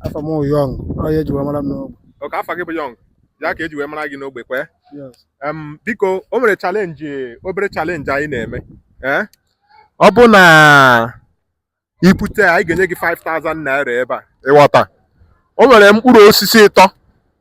afa m wụ Young ọ ya eji wee mara m n'ogbe okay afa gị bụ Young ya ka eji wee mara gị n'ogbe kwee yes Em, biko o nwere challenge obere challenge anyị na-eme ee ọ bụ na i bute ya, anyị ga-enye gị 5000 naira ebe a ị ghọta o nwere mkpụrụ osisi ịtọ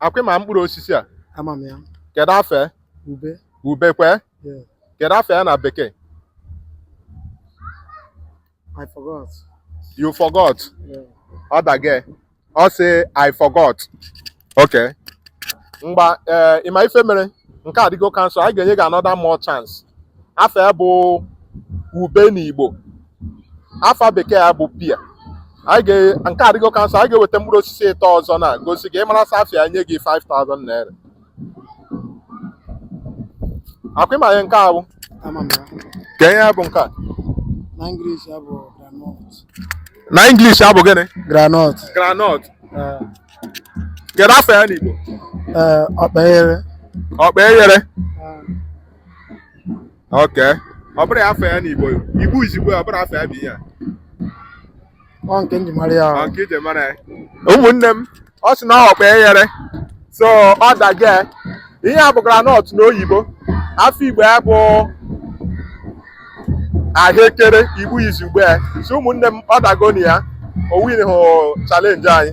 akwa ị ma mkpụrụ osisi a ama m ya kedu afa ya ube ube kwe Yeah. kedu afa ya na bekee I forgot you forgot yeah. ọ dago ya ọ sị I forgot okay ngwa ee ị ma ife mere nke a dịgo cancel anyị ga-enye gị another more chance afa ya bụ ube na Igbo afa bekee ya bụ pear anyị ga- nke a dịgo cancel anyị ga-eweta mkpụrụ osisi ịtọ ọzọ na gosi gị ị marasịa afa ya nye gị 5000 naira akwa ị ma ihe nke a bụ Ama m ya. kee ihe bụ nke a Na English ya bụ groundnut. na English ya bụ gịnị Groundnut. groundnut Eh, kedu afa ya n'Igbo eh, ọkpa eghere. ọkpa eghere Eh, okay ọ bụrọ ya afa ya n'Igbo Igbo izugbe ọ bụrọ afa ya bụ ihe a ọ nke m ji mara ya ọ nke i ji mara ya ụmụnne m ọ sị na ọkpa eghere so ọ dago ya ihe a bụ groundnut n'oyibo afa Igbo ya bụ ahụekere Igbo izugbe ya so ụmụnne m ọ dagonụ ya o win hụ challenge anyị